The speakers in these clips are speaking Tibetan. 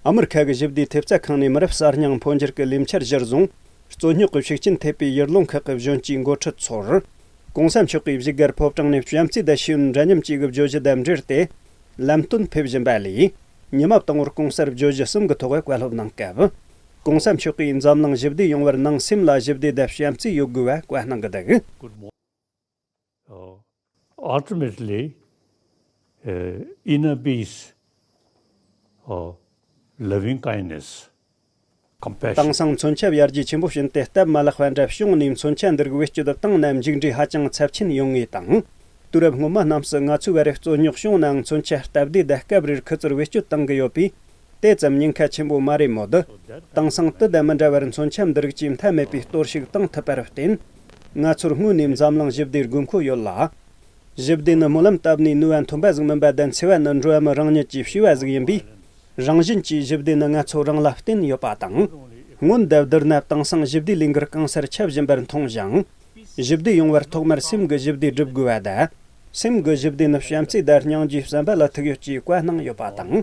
ཨ་མེ་རི་ཁ་གི་ཞི་བདེའི་ཐེབས་རྩ་ཁང་ནས་མི་རབས་གསར་རྙིང་འཕོ་འགྱུར་གྱི་ལས་འཆར་གཞིར་བཟུང། རྩོད་རྙོག་གི་ཤུགས་རྐྱེན་ཐེབས་པའི་ཡུལ་ལུང་ཁག་གི་གཞོན་སྐྱེས་འགོ་ཁྲིད་ཚོར། གོང་ས་མཆོག་གིས་གཞིས་སྒར་ཕོབ་གྲངས་ནས་བྱམས་བརྩེའི་ཟླ་ཤེས་ཡོན་འདྲ་མཉམ་ཅེས་ཀྱི་བརྗོད་གཞི་བདམས་འབྲེལ་ཏེ། ལམ་སྟོན་ཕེབས་བཞིན་པ་ལས། ཉི་མ་དང་བོར་གོང་སར་བརྗོད་གཞི་གསུམ་གྱི་ཐོག་བཀའ་སློབ་གནང་སྐབས། གོང་ས་མཆོག་གིས་འཛམ་གླིང་ཞི་བདེ་ཡོང་བར་ནང་སེམས་ལ་ཞི་བདེ་དང་བྱམས་བརྩེ་ཡོད་དགོས་པ་བཀའ་གནང་གི་འདུག། Ultimately, inner peace, loving kindness, compassion། དེང་སང་མཚོན་ཆ་ཡར་རྒྱས་ཆེན་པོ་ཕྱིན་ཏེ་སྟབས་མ་ལེགས་པ་འདྲ་བྱུང་ནས་མཚོན་ཆ་འདི་རིགས་བེད་སྤྱོད་དུ་བཏང་ན་མཇུག་འབྲས་ཧ་ཅང་ཚབས་ཆེན་ཡོང་ངེས་དང། དུས་རབས་སྔོན་མ་རྣམས་སུ་ང་ཚོའི་བར་རེག་བཙོ་ཉོག་བྱུང་ནའང་མཚོན་ཆ་སྟབས་བདེའི་བརྡ་སྐབས་རེར་ཁུ་ཚུར་བེད་སྤྱོད་གཏང་གི་ཡོད་པས་དེ་ཙམ་ཉེན་ཁ་ཆེན་པོ་མ་རེད་མོད། དེང་སང་དུས་བདེ་མི་འདྲ་བར་མཚོན་ཆ་འདི་རིགས་ཀྱིས་མཐའ་མེད་པའི་གཏོར་བཤིག་གཏོང་ཐུབ་པར་བརྟེན། ང་ཚོར་དངོས་ནས་འཛམ་གླིང་ཞི་བདེའི་དགོས་མཁོ་ཡོད་ལ། ཞི་བདེ་ནི་སྨོན་ལམ་བཏབ་ནས་ནུས་པ་འཐོན་པ་ཟིག་མིན་པ་བདེན་ཚེ་བ་ནི་འགྲོ་བ་མི་རང་ཉིད་ཀྱིས་ཤེས་པ་ཟིག་ཡིན་པས། རང་བཞིན་གྱིས་ཞི་བདེ་ནི་ང་ཚོ་རང་ལ་བརྟེན་ཡོད་པ་དང། སྔོན་དེབ་དེར་ནབ་དེང་སང་ཞི་བདེའི་ལས་འགུལ་གང་སར་ཁྱབ་བཞིན་པར་མཐོང་ཞིང། ཞི་བདེ་ཡོང་བར་ཐོག་མར་སེམས་ཀྱི་ཞི་བདེ་བསྒྲུབ་དགོས་པ་དང། སེམས་ཀྱི་ཞི་བདེ་ནི་བྱམས་བརྩེའི་བརྡར་སྙིང་རྗེའི་བསམ་པ་ལ་ཐུག་ཡོད་ཅེས་བཀའ་གནང་ཡོད་པ་དང།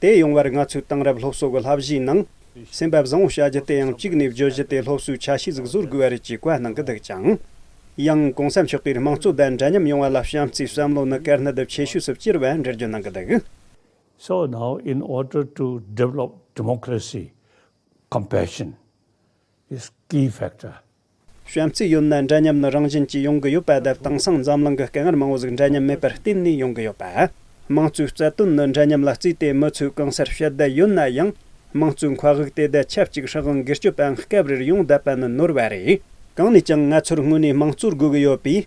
དེ་ཡོང་བར་ང་ཚོས་དེང་རབས་སློབ་གསོ་གི་བསླབ་གཞིའི་ནང། སེམས་པ་བཟང་བོ་བྱ་རྒྱུ་དེ་ཡང་གཅིག་ནས་བརྗོད་གཞི་དེ་སློབ་གསོའི་ཆ་ཤས་ཟིག་བཟོ་དགོས་པ་རེད་ཅེས་བཀའ་གནང་གི་འདུག་ཅིང། ཡང་གོང་ས་མཆོག་གིས་དམངས་གཙོ་ལྡན་འདྲ་མཉམ་ཡོང་བ་ལ་བྱམས་བརྩེའི་བསམ་བློ་ནི་དཀར་ནག་དབྱིབས་ཆེ་ཤོས་སུ་བསྐྱུར་བའི་འགྲེལ་བརྗོད་གནང་གི་འདུག། So now in order to develop democracy, compassion is key factor གཞན་ཚིག་ཡོད་ན་འདྲ་མཉམ་ནི་རང་བཞིན་གྱིས་ཡོང་གི་ཡོད་པ་དེར་དེང་སང་འཛམ་གླིང་གི་སྐད་ངར་མང་བོ་ཟིག་འདྲ་མཉམ་མེད་པར་བརྟེན་ནས་ཡོང་གི་ཡོད་པ། དམངས་གཙོའི་རྩ་དོན་ནི་འདྲ་མཉམ་ལ་བརྩིས་ཏེ་མི་ཚོས་གང་སར་བཤད་བསྡད་ཡོད་ན་ཡང། དམངས་གཙོའི་མཁའ་དབུགས་དེ་བརྡལ་ཆབས་ཅིག་ཧྲག་གིང་སྒེར་གཅོད་པའང་སྐབས་རེར་ཡོང་བསྡད་པ་ནི་ནོར་བ་རེད། གང་ནས་ཀྱང་ང་ཚོར་དངོས་གནས་དམངས་གཙོར་དགོས་གི་ཡོད་པས།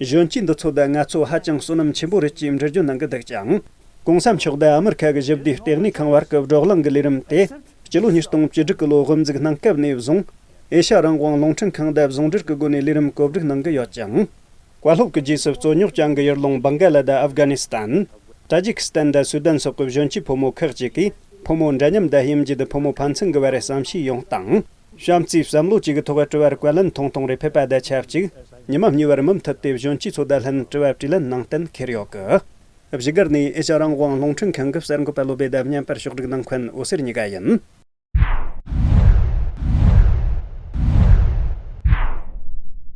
གཞོན་སྐྱེས་འདི་ཚོ་དང་ངལ་རྩོལ་ཧ་ཅང་བསོད་ནམས་ཆེན་པོ་རེད་ཅེས་འགྲེལ་བརྗོད་གནང་གི་འདུག་ཅིང། གོང་ས་མཆོག་དང་ཨ་མི་རི་ཁ་གི་ཞི་བདེའི་ལྟེ་གནས་ཁང་བར་གྱི་སྒྲོག་གླེང་གི་ལས་རིམ་དེ་སྤྱི་ལོ་ཉིས་སྟོང་བཅུ་དྲུག་གི་ལོ་དབུ་འཛུགས་གནང་སྐབས་ནས་བཟུང། ཨེ་ཤ་རང་དབང་རླུང་འཕྲིན་ཁང་དང་ཟུང་འབྲེལ་གྱི་སྒོ་ནས་ལས་རིམ་བཀོད་སྒྲིག་གནང་གི་ཡོད་ཅིང། བཀའ་སློབ་ཀྱི་རྗེས་སུ་རྩོད་རྙོག་བྱང་གི་ཡུལ་ལུང་སྦང་ག་ལ་དང་ཨབ་གྷ་ནི་སི་ཐན། ཏཱ་ཇི་ཁི་སི་ཐན་དང་སུའུ་དན་སོགས་ཀྱི་གཞོན་སྐྱེས་ཕོ་མོ་ཁག་ཅིག་གིས་ཕོ་མོ་འདྲ་མཉམ་དང་དབྱེ་འབྱེད་དེ་ཕོ་མོ་ཕན་ཚུན་གྱི་བར་བསམ་ཤེས་ཡོང་སྟངས། བྱམས་བརྩེའི་བསམ་བློ་གཅིག་གི་ཐོག་དཀྲི་བར་བཀའ་ལན་ཐུང་ཐུང་རེ་ཕེབས་པ་ད་ཆ་གཅིག། ཉི་མ་གཉིས་བར་མུ་མཐུད་དེ་གཞོན་སྐྱེས་ཚོ་དང་ལྷན་དཀྲི་བ་དཀྲིས་ལན་གནང་གཏན་འཁེལ་ཡོད་གི། བཞི་སྒར་ནས་ཨེ་ཤ་རང་དབང་རླུང་འཕྲིན་ཁང་གི་གསར་འགོད་པ་བློ་བདེ་ལྡབ་མཉམ་པར་ཕྱོགས་བསྒྲིགས་གནང་མཁན་འོད་ཟེར་གཉིས་ཀ་ཡིན།